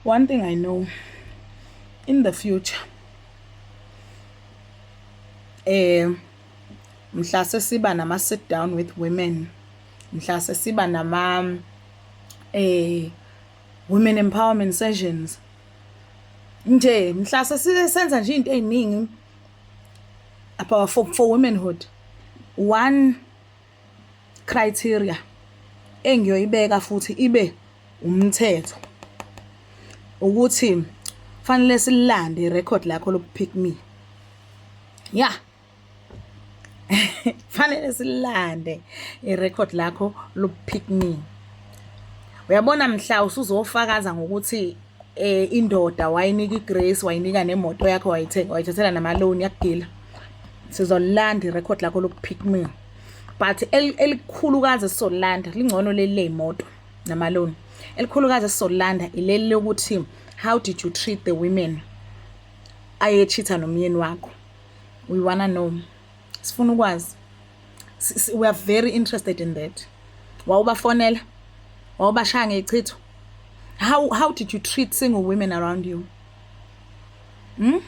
One thing I know in the future eh mhla sesiba nama sit down with women mhla sesiba nama eh women empowerment sessions nje mhla sesisenza nje into eziningi about for, for womanhood one criteria engiyoyibeka futhi ibe umthetho ukuthi fanele silande irecord lakho lokupick me ya fanele silande irecord lakho lokupick me uyabona mhla usuzofakaza ngokuthi eh indoda wayinika igrace wayinika nemoto yakho wayithenga wayithathela namaloni yakugila sizolanda irekhodi lakho lokuphikmia but elikhulukazi esisolanda lingcono leli leyimoto namaloni elikhulukazi esisolanda ileli lokuthi how did you treat the women ayechitha nomyeni wakho we wanna know sifuna ukwazi we are very interested in that wawubafonela wawubashaya ngechitho how how did you treat single women around you hmm?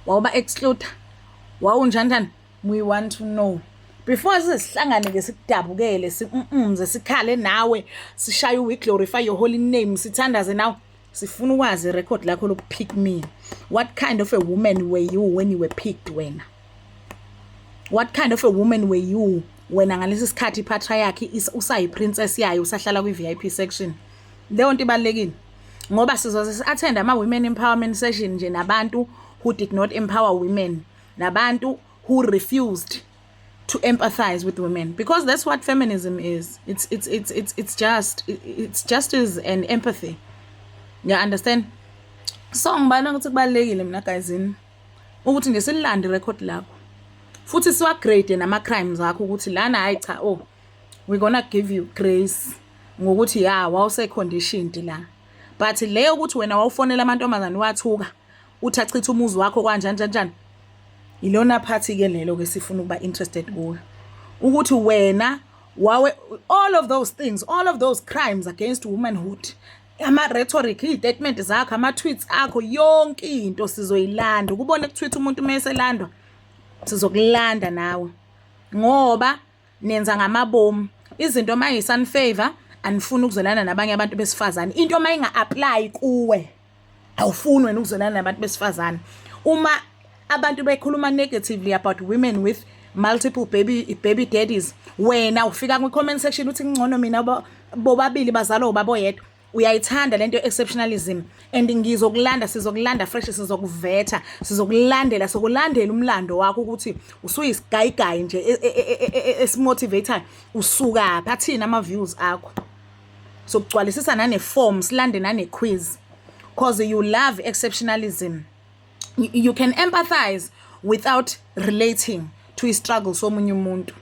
wawuba excluder wawunjanjani we want to know before size sihlangane ke sikudabukele sikumze sikhale nawe sishaye we glorify your holy name sithandaze nawe sifuna ukwazi record lakho loku pick me what kind of a woman were you when you were picked wena what kind of a woman were you wena ngalesi sikhathi iphatha yakhe usayi princess yayo usahlala kwi VIP section leyo nto ibalekile ngoba sizoze si-attend ama women empowerment session nje nabantu who did not empower women nabantu who refused to empathize with women because that's what feminism is it's it's it's it's, it's just it's just is an empathy you understand so ngibana ukuthi kubalekile mina guys in ukuthi nje sililande record lakho futhi siwa grade nama crimes akho ukuthi lana hayi cha oh we gonna give you grace ngokuthi ya wawuse conditioned la but leyo ukuthi wena wawufonela amantombazane wathuka uthi achithe umuzi wakho kwanjani njanjani ilona phathi ke lelo ke sifuna ukuba interested kuyo ukuthi wena wawe all of those things all of those crimes against womanhood ama rhetoric istatement zakho ama tweets akho yonke into sizoyilanda ukubona kutweet umuntu uma eselandwa sizokulanda nawe ngoba nenza ngamabomu izinto uma yisun favor anifuni ukuzwelana nabanye abantu besifazane into uma inga-aplayi kuwe awufuni wena ukuzwelana nabantu besifazane uma abantu bekhuluma negatively about women with multiple baby baby daddies wena ufika kwi-comment section uthi ngcono mina bobabili bazalwa ubaba oyedwa uyayithanda lento exceptionalism and ngizokulanda sizokulanda fresh sizokuvetha sizokulandela sokulandela umlando wakho ukuthi usuyisigayigayi nje e, e, e, esimotivator usuka phi athina ama views akho sokugcwalisisa nane form silande nane quiz because you love exceptionalism you can empathize without relating to i-struggle somunye umuntu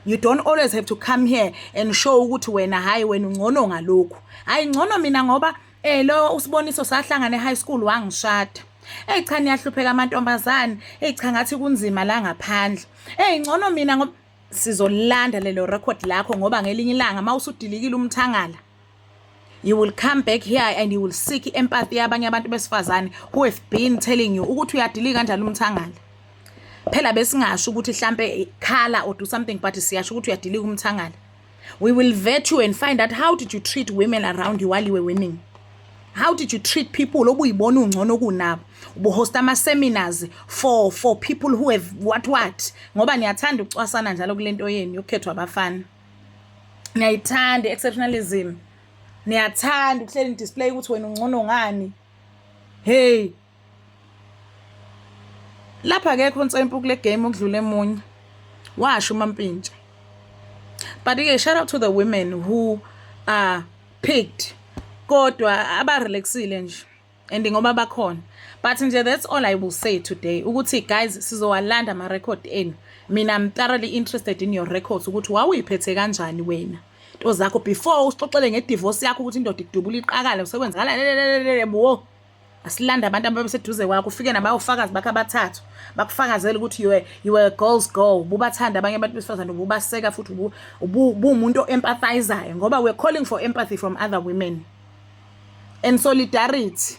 you don't always have to come here and show ukuthi wena hhayi wena ungcono ngalokhu hhayi ngcono mina ngoba um lo usiboniso sahlangana e-high school wangishada eyi cha niyahlupheka amantombazane eyi cha ngathi kunzima la ngaphandle eyi ngcono mina ngoba sizolilanda lelo rekhodi lakho ngoba ngelinye ilanga uma usudilikile umthangala you will come back here and you will seek empathy yabanye abantu besifazane who have been telling you ukuthi uyadilika kanjani umthangala phela besingasho ukuthi hlampe khala or do something but siyasho ukuthi uyadilika umthangala we will vet you and find out how did you treat women around you while you were winning how did you treat people obuyibona ungcono kunabo ubuhosta ama-seminars for for people who have what what ngoba niyathanda ukucwasana njalo kule nto yenu yokukhethwa abafana niyayithanda i-exceptionalism niyathanda ukuhleli nidisplay ukuthi wena ungcono ngani hey lapha akekho ntsempu kule game okudlule emunye washo umampintsha but ke shout out to the women who are picked kodwa abarelaxile nje and ngoba bakhona but nje that's all i will say today ukuthi guys sizowalanda ama-record enu mina i'm thoroughly interested in your records ukuthi wawuyiphethe kanjani wena nto zakho before usixoxele ngedivosi yakho ukuthi indoda idubula iqakala usekwenzakala lelelelelele wo asilanda abantu ababeseduze kwakho ufike nabayofakazi bakho abathathu bakufakazela ukuthi you you were a girls girl ububathanda abanye abantu besifazane ububaseka futhi ubuwumuntu o-empathizayo ngoba we're calling for empathy from other women and solidarity